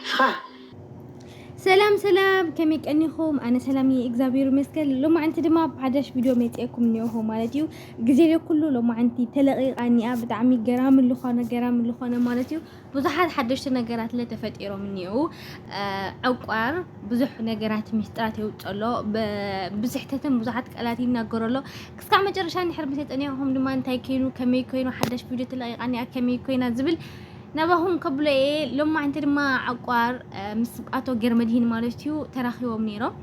ንስኻ ሰላም ሰላም ከመይ ቀኒኹም? ኣነ ሰላም እየ እግዚኣብሔር ይመስገን። ሎማዕንቲ ድማ ኣብ ሓዳሽ ቪድዮ መፂኤኩም እኒኦኹ ማለት እዩ። ግዜ ዘይኩሉ ሎማዕንቲ ተለቂቃ እኒኣ ብጣዕሚ ገራሚ ዝኾነ ገራሚ ዝኾነ ማለት እዩ ብዙሓት ሓደሽቲ ነገራት ለ ተፈጢሮም እኒኡ ዕቋር ብዙሕ ነገራት ምስጢራት የውፅእ ኣሎ ብስሕተትን ብዙሓት ቃላት ይናገሩ ኣሎ ክስካዕ መጨረሻ እንድሕር ምሰጠኒኹም ድማ እንታይ ኮይኑ ከመይ ኮይኑ ሓዳሽ ቪድዮ ተለቂቃ እኒኣ ከመይ ኮይና ዝብል ናባኹም ከብሎ እየ ሎማዕንቲ ድማ ዓቋር ምስ ኣቶ ገርመድሂን ማለት እዩ ተራኺቦም ነይሮም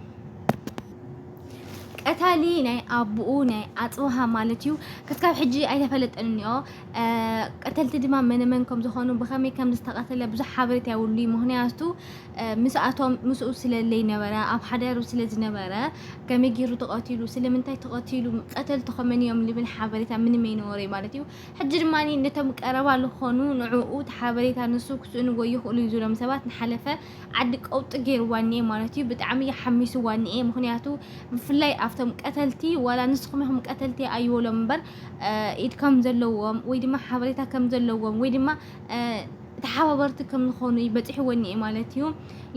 ቀታሊ ናይ ኣቦኡ ናይ ኣፅብሃ ማለት እዩ ክሳብ ሕጂ ኣይተፈለጠን እኒኦ ቀተልቲ ድማ መነመን ከም ዝኾኑ ብኸመይ ከም ዝተቐተለ ብዙሕ ሓበሬታ የብሉይ ምክንያቱ ምስኣቶም ምስኡ ስለለይ ነበረ ኣብ ሓዳሩ ስለ ዝነበረ ከመይ ገይሩ ተቐቲሉ ስለምንታይ ተቐቲሉ ቀተልቲ ከመን እዮም ልብል ሓበሬታ ምንም ኣይነበረይ ማለት እዩ ሕጂ ድማ ነቶም ቀረባ ልኾኑ ንዕኡ እቲ ሓበሬታ ንሱ ክስእንዎ ይኽእሉ እዩ ዝብሎም ሰባት ንሓለፈ ዓዲ ቀውጢ ጌርዋ እኒኤ ማለት እዩ ብጣዕሚ እዩ ሓሚስዋ እኒኤ ምኽንያቱ ብፍላይ ኣብቶም ቀተልቲ ዋላ ንስኹም ኢኹም ቀተልቲ ኣይበሎም እምበር ኢድ ከም ዘለዎም ወይ ድማ ሓበሬታ ከም ዘለዎም ወይ ድማ ተሓባበርቲ ከም ዝኾኑ እዩ በፂሕዎ እኒኤ ማለት እዩ።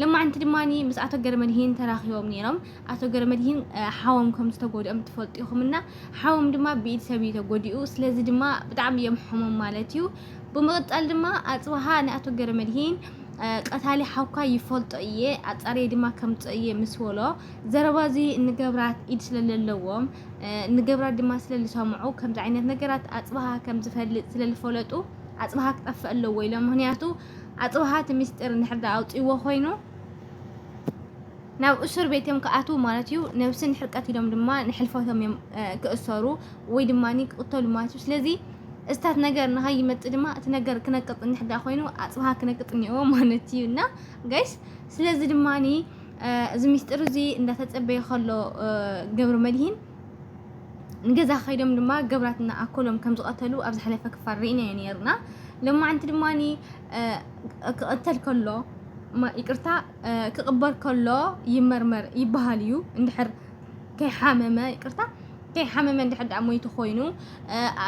ለማዕንቲ ድማ ምስ ኣቶ ገረመድሂን ተራኺቦም ነይሮም። ኣቶ ገረመድሂን ሓዎም ከም ዝተጎድኦም ትፈልጡ ኢኹም እና ሓዎም ድማ ብኢድ ሰብ እዩ ተጎዲኡ። ስለዚ ድማ ብጣዕሚ እዮም ሕሙም ማለት እዩ። ብምቕጻል ድማ ኣጽብሃ ንኣቶ ገረመድሂን ቀታሊ ሓውካ ይፈልጦ እየ ኣጻርየ ድማ ከምጽኦ እየ ምስ በሎ ዘረባ እዚ ንገብራት ኢድ ስለ ዘለዎም ንገብራት ድማ ስለ ዝሰምዑ ከምዚ ዓይነት ነገራት ኣጽብሃ ከም ዝፈልጥ ስለ ዝፈለጡ ኣጽብሃ ክጠፍእ ኣለዎ ኢሎም ምክንያቱ ኣጽብሃ እቲ ምስጢር እንድሕር ኣውጽዎ ኮይኑ ናብ እሱር ቤት እዮም ክኣትዉ ማለት እዩ ነብስን ሕርቀት ኢሎም ድማ ንሕልፈቶም እዮም ክእሰሩ ወይ ድማ ክቕተሉ ማለት እዩ ስለዚ እስታት ነገር ንሃይ ይመጽ ድማ እቲ ነገር ክነቅጥ እንሕዳ ኮይኑ ኣጽብሃ ክነቅጥ እኒኦ ማለት እዩ እና ጋይስ ስለዚ ድማ እዚ ሚስጥር እዚ እንዳተጸበየ ከሎ ገብረ መድሂን ንገዛ ከይዶም ድማ ገብራት እና ኣኮሎም ከም ዝቐተሉ ኣብ ዝሓለፈ ክፋል ርኢናዮ ነርና ሎማዓንቲ ድማ ክቕተል ከሎ ይቅርታ ክቕበር ከሎ ይመርመር ይበሃል እዩ እንድሕር ከይሓመመ ይቅርታ ከይሓመመ እንድሕር ደኣ ሞይቱ ኮይኑ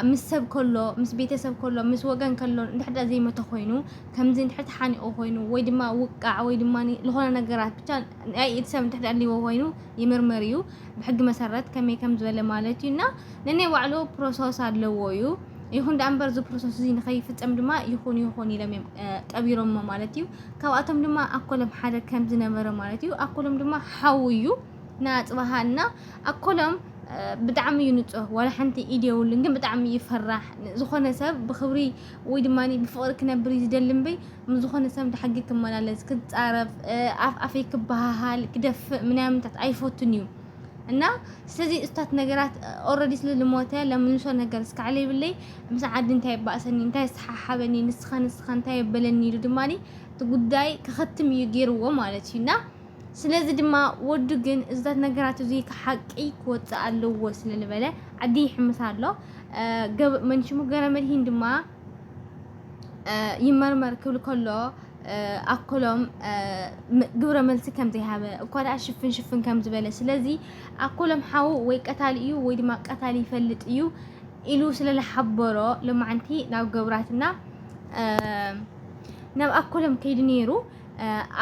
ምስ ሰብ ከሎ ምስ ቤተሰብ ከሎ ምስ ወገን ከሎ እንድሕር ደኣ ዘይሞተ ኮይኑ ከምዚ እንድሕር ተሓኒቑ ኮይኑ ወይ ድማ ውቃዕ ወይ ድማ ዝኾነ ነገራት ብቻ ናይ ኢድ ሰብ እንድሕር ደኣ ኣልዎ ኮይኑ ይምርመር እዩ ብሕጊ መሰረት ከመይ ከም ዝበለ ማለት እዩ እና ነናይ ባዕሉ ፕሮሰስ ኣለዎ እዩ ይኹን ደኣ እምበር እዚ ፕሮሰስ እዚ ንኸይፍፀም ድማ ይኹን ይኹን ኢሎም እዮም ቀቢሮሞ ማለት እዩ ካብኣቶም ድማ ኣኮሎም ሓደ ከም ዝነበረ ማለት እዩ ኣኮሎም ድማ ሓው እዩ ንኣፅባሃ እና ኣኮሎም ብጣዕሚ እዩ ንፁህ ዋላ ሓንቲ ኢድ የብሉን ግን ብጣዕሚ እዩ ፈራሕ ዝኾነ ሰብ ብክብሪ ወይ ድማ ብፍቅሪ ክነብር እዩ ዝደሊ እምበይ ምስ ዝኾነ ሰብ ድሓጊ ክመላለስ ክፃረፍ ኣፍ ኣፈይ ክበሃሃል ክደፍእ ምናምንታት ኣይፈቱን እዩ እና ስለዚ እታት ነገራት ኦረዲ ስለ ልሞተ ለምልሶ ነገር ስካዕለ ይብለይ ምስ ዓዲ እንታይ ይባእሰኒ እንታይ ዝተሓሓበኒ ንስኻ ንስኻ እንታይ የበለኒ ኢሉ ድማ እቲ ጉዳይ ክኸትም እዩ ገይርዎ ማለት እዩ እና ስለዚ ድማ ወዱ ግን እዝታት ነገራት እዚ ሓቂ ክወፅእ ኣለዎ ስለ ዝበለ ዓዲ ይሕምስ ኣሎ ገብ መንሽሙ ገረ መድሂን ድማ ይመርመር ክብል ከሎ ኣኮሎም ግብረ መልሲ ከም ዘይሃበ እኳ ደኣ ሽፍን ሽፍን ከም ዝበለ ስለዚ ኣኮሎም ሓው ወይ ቀታሊ እዩ ወይ ድማ ቀታሊ ይፈልጥ እዩ ኢሉ ስለ ዝሓበሮ ሎማዓንቲ ናብ ገብራትና ናብ ኣኮሎም ከይዱ ነይሩ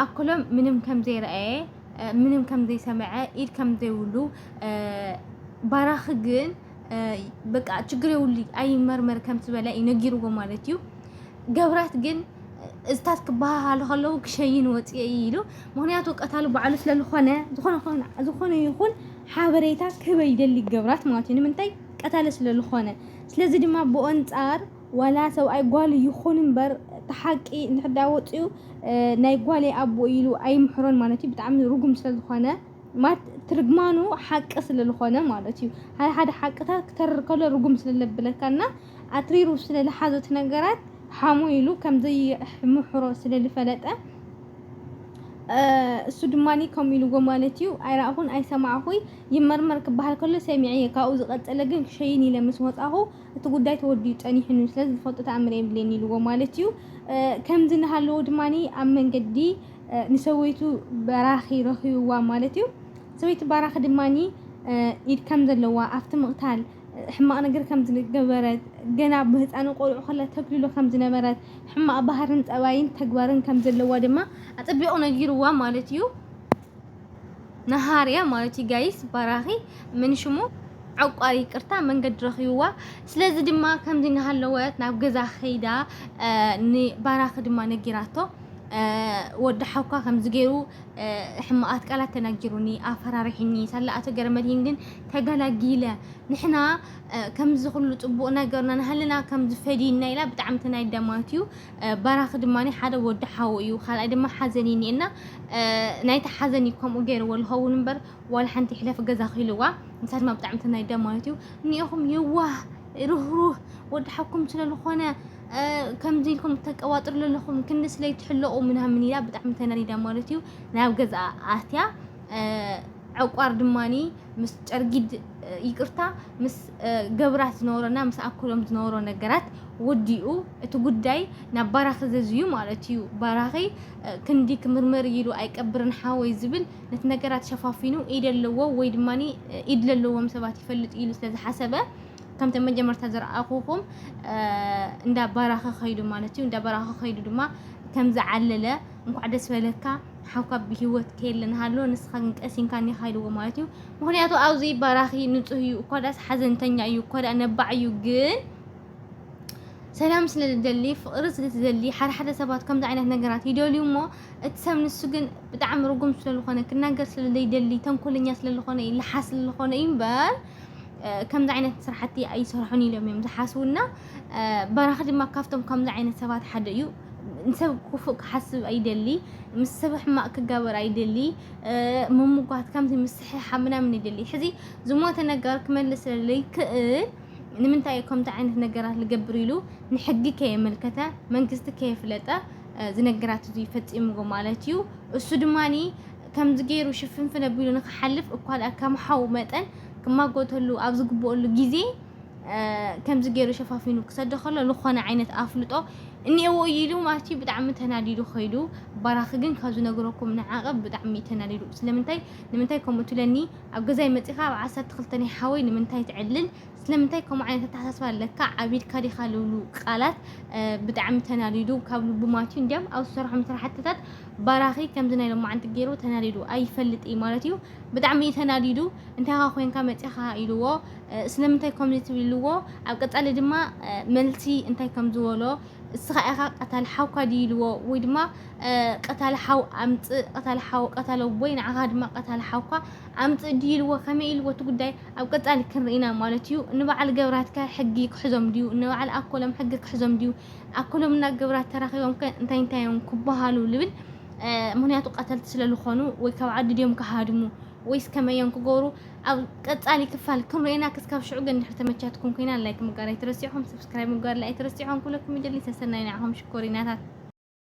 ኣኮሎም ምንም ከም ዘይረኣየ ምንም ከም ዘይሰምዐ ኢድ ከም ዘይብሉ ባራኺ ግን በቃ ችግር የብሉ ኣይመርመር ከም ዝበለ እዩ ነጊርዎ ማለት እዩ ገብራት ግን እዝታት ክበሃሃሉ ከለዉ ክሸይን ወፅኤ ኢሉ ምክንያቱ ቀታሉ ባዕሉ ስለ ዝኾነ ዝኾነ ኾነ- ዝኾነ ይኹን ሓበሬታ ክህበ ይደሊ ገብራት ማለት እዩ ንምንታይ ቀታሊ ስለ ዝኾነ ስለዚ ድማ ብኡ ኣንፃር ዋላ ሰብኣይ ጓል ይኹን እምበር እቲ ሓቂ እንድሕር ዳኣ ወፅዩ ናይ ጓለይ ኣቦ ኢሉ ኣይምሕሮን ማለት እዩ ብጣዕሚ ርጉም ስለ ዝኾነ ማት ትርግማኑ ሓቂ ስለ ልኾነ ማለት እዩ። ሓደ ሓደ ሓቅታት ክተርር ከሎ ርጉም ስለ ለብለካ እና ኣትሪሩ ስለ ልሓዞ እቲ ነገራት ሓሙ ኢሉ ከም ዘይምሕሮ ስለ ልፈለጠ እሱ ድማኒ ከምኡ ኢልዎ ማለት እዩ። ኣይረኣኹን ኣይሰማዕኹይ ይመርመር ክበሃል ከሎ ሰሚዐየ ካብኡ ዝቐጸለ ግን ክሸይን ኢለ ምስ ወጻኹ እቲ ጉዳይ ተወዲኡ ጸኒሑኒ ስለዚ ዝፈልጦ ተኣምር የብልየን ኢልዎ ማለት እዩ። ከምዚ እናሃለዎ ድማኒ ኣብ መንገዲ ንሰበይቱ በራኺ ረኺብዋ ማለት እዩ። ሰበይቲ ባራኺ ድማ ኢድ ከም ዘለዋ ኣብቲ ምቕታል ሕማቕ ነገር ከም ዝገበረት ገና ብህፃኑ ቆልዑ ከላ ተግልሎ ከም ዝነበረት ሕማቕ ባህርን ጠባይን ተግባርን ከም ዘለዋ ድማ ኣፀቢቑ ነጊርዋ ማለት እዩ። ነሃርያ ማለት እዩ ጋይስ ባራኺ ምን ሽሙ ዕቋር ይቅርታ መንገዲ ረኺብዋ ስለዚ ድማ ከምዚ እናሃለወት ናብ ገዛ ከይዳ ንባራኺ ድማ ነጊራቶ ወዲ ሓውካ ከምዚ ገይሩ ሕማቓት ቃላት ተናጊሩኒ ኣፈራሪሒኒ ሳላ ኣቶ ገረመድሂን ግን ተገላጊለ ንሕና ከምዚ ኩሉ ፅቡቕ ነገርና ንሃለና ከምዚ ፈዲና ኢላ ብጣዕሚ ተናዲዳ ማለት እዩ ባራኺ ድማ ሓደ ወዲ ሓው እዩ ካልኣይ ድማ ሓዘን እዩ እኒኤና ናይቲ ሓዘን እዩ ከምኡ ገይርዎ ዝኸውን እምበር ዋላ ሓንቲ ይሕለፍ ገዛ ክኢልዋ ንሳ ድማ ብጣዕሚ ተናዲዳ ማለት እዩ እኒኦኹም የዋህ ርህሩህ ወዲ ሓውኩም ስለ ዝኾነ ከምዚ ኢልኩም ተቀባጥሩ ዘለኹም ክንድስ ለይትሕለቑ ምናምን ኢላ ብጣዕሚ ተናዲዳ ማለት እዩ ናብ ገዝኣ ኣትያ ዕቋር ድማኒ ምስ ጨርጊድ ይቅርታ ምስ ገብራት ዝነበሮና ምስ ኣኩሎም ዝነበሮ ነገራት ወዲኡ እቲ ጉዳይ ናብ ባራኺ ዘዝዩ ማለት እዩ ባራኺ ክንዲ ክምርመር ኢሉ ኣይቀብርን ሓወይ ዝብል ነቲ ነገራት ሸፋፊኑ ኢድ ኣለዎ ወይ ድማኒ ኢድ ዘለዎም ሰባት ይፈልጥ ኢሉ ስለዝሓሰበ ከምቲ መጀመርታ ዝረኣኹኹም እንዳ ባራኸ ከይዱ ማለት እዩ። እንዳ ባራኸ ከይዱ ድማ ከም ዝዓለለ እንኳዕ ደስ በለካ ሓውካ ብሂወት ከየለ ንሃሎ ንስኻ ግን ቀሲንካ እኒኻ ኢልዎ ማለት እዩ። ምክንያቱ ኣብዚ ባራኺ ንጹህ እዩ እኳ ዳስ ሓዘንተኛ እዩ እኳ ዳ ነባዕ እዩ ግን ሰላም ስለ ዝደሊ ፍቕሪ ስለ ዝደሊ ሓደ ሓደ ሰባት ከምዚ ዓይነት ነገራት ይደልዩ እሞ እቲ ሰብ ንሱ ግን ብጣዕሚ ርጉም ስለ ዝኾነ ክናገር ስለ ዘይደሊ ተንኮለኛ ስለ ዝኾነ እዩ ልሓስ ስለ ዝኾነ እዩ እምበር ከምዚ ዓይነት ስራሕቲ ኣይሰርሑን ኢሎም እዮም ዝሓስቡና በራኺ ድማ ካብቶም ከምዚ ዓይነት ሰባት ሓደ እዩ ንሰብ ክፉእ ክሓስብ ኣይደሊ ምስ ሰብ ሕማቅ ክጋበር ኣይደሊ ምምጓት ከምዚ ምስሕሓብ ምናምን ይደሊ ሕዚ ዝሞተ ነገር ክመልስ ስለለይክእል ንምንታይ እዩ ከምዚ ዓይነት ነገራት ዝገብር ኢሉ ንሕጊ ከየመልከተ መንግስቲ ከየፍለጠ ዝነገራት እዚ ፈፂምዎ ማለት እዩ እሱ ድማኒ ከምዚ ገይሩ ሽፍንፍን ኣቢሉ ንኽሓልፍ እኳ ድኣ ከም ሓው መጠን ክማጎተሉ ኣብ ዝግበኦሉ ግዜ ከምዚ ገይሩ ሸፋፊኑ ክሰዶ ከሎ ዝኾነ ዓይነት ኣፍልጦ እኒኤዎ እዩ ኢሉ ማለት እዩ ብጣዕሚ ተናዲዱ ከይዱ። ባራኺ ግን ካብ ዝነግረኩም ንዓቐብ ብጣዕሚ እዩ ተናዲዱ። ስለምንታይ ንምንታይ ከምኡ ትብለኒ ኣብ ገዛይ መጺኻ ኣብ ዓሰርተ ክልተ ናይ ሓወይ ንምንታይ ትዕልል ስለምንታይ ከምኡ ዓይነት ኣተሓሳስባ ኣለካ ዓቢድካ ዲኻ ልብሉ ቃላት ብጣዕሚ ተናዲዱ ካብ ልቡ ማለት እዩ እንዲያም ኣብ ዝሰርሖም ስራሕትታት ባራኺ ከምዚ ናይ ሎማዓንቲ ጌሩ ተናዲዱ ኣይፈልጥ ኢዩ ማለት ኢዩ ብጣዕሚ ኢዩ ተናዲዱ እንታይ ኢኻ ኮንካ መጺኻ ኢልዎ ስለምንታይ ከምዚ ትብል ኢልዎ ኣብ ቀጻሊ ድማ መልሲ እንታይ ከም ዝበሎ እስኻ ኢኻ ቀታሊ ሓውካ ድዩ ኢልዎ ወይ ድማ ቀታሊ ሓው ኣምጽእ ቀታሊ ሓው ቀታሊ ኣቦይ ንዓኻ ድማ ቀታሊ ሓውካ ኣምጽእ ድዩ ኢልዎ ከመይ ኢልዎ እቲ ጉዳይ ኣብ ቀጻሊ ክንርኢና ማለት ኢዩ ንበዓል ገብራትካ ሕጊ ክሕዞም ድዩ ንበዓል ኣኮሎም ሕጊ ክሕዞም ድዩ ኣኩሎምና ግብራት ተራኪቦም ከ እንታይ እንታይ እዮም ክባሃሉ ልብል ምክንያቱ ቀተልቲ ስለ ልኮኑ ወይ ካብ ዓዲ ድዮም ክሃድሙ ወይስ ከመይ እዮም ክገብሩ ኣብ ቀጻሊ ክፋል ክንርእና ክስካብ ሽዑ ግን ድሕሪ ተመቻትኩም ኮይና ላይክ ምግባር ኣይትረስዑ ከም ሰብስክራይብ ምግባር ኣይትረስዑ ኩለኩም ይደሊ ሰሰናይ ንዓኹም ሽኮሪናታት